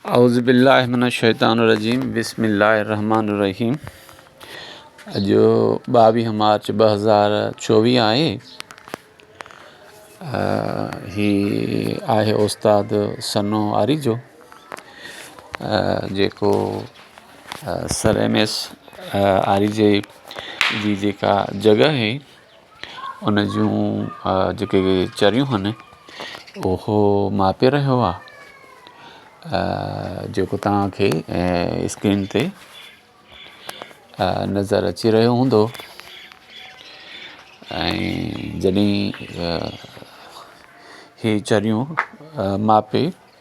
اعوذ بالله من الشيطان الرجيم بسم الله الرحمٰن الرحيم اڄ ٻاويهه مارچ ٻه هزار چوويهه آهي هي آهي استاد سنو آريجو جيڪو سر ايم ايس آريجي جي جيڪا جڳهه هي ان جون جيڪي چريون هن اهو ماپي رهيو آ جيڪو توهان کي اسڪرين تي نظر اچي رهيو هوندو ۽ جڏهن هي چريون ماپي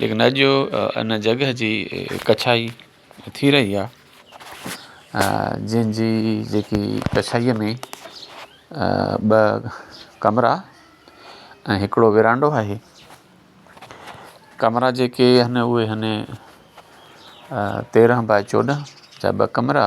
ليڪن اڄ ان جڳهه جي ڪڇائي ٿي رهي آهي جنهن جي جيڪي ڪڇائيء ۾ ٻه ڪمرا ۽ هڪڙو ورانڊو آهي ڪمرا جيڪي آهن اهي آهن تيرهن باء چوڏهن جا ٻه ڪمرا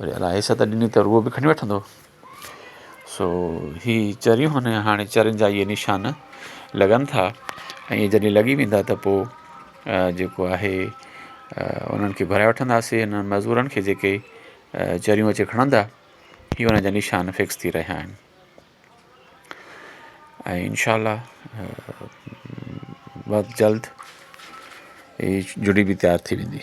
وري الاهي حصه ته ڏني ته روح به کڻي وٺندو سو هي چريون هن هاڻي چرين جا ائي نشان لڳن ٿا ائين جڏهن لڳي ويندا ته پو جيڪو آهي انهن کي گهرائي وٺنداسي انهن مزورن کي جيڪي چريون اچي کڻندا هي انهن جا نشان فڪس ٿي رهيا آهن ۽ انشاء الله بس جلد هي جڙي به تيار ٿي ويندي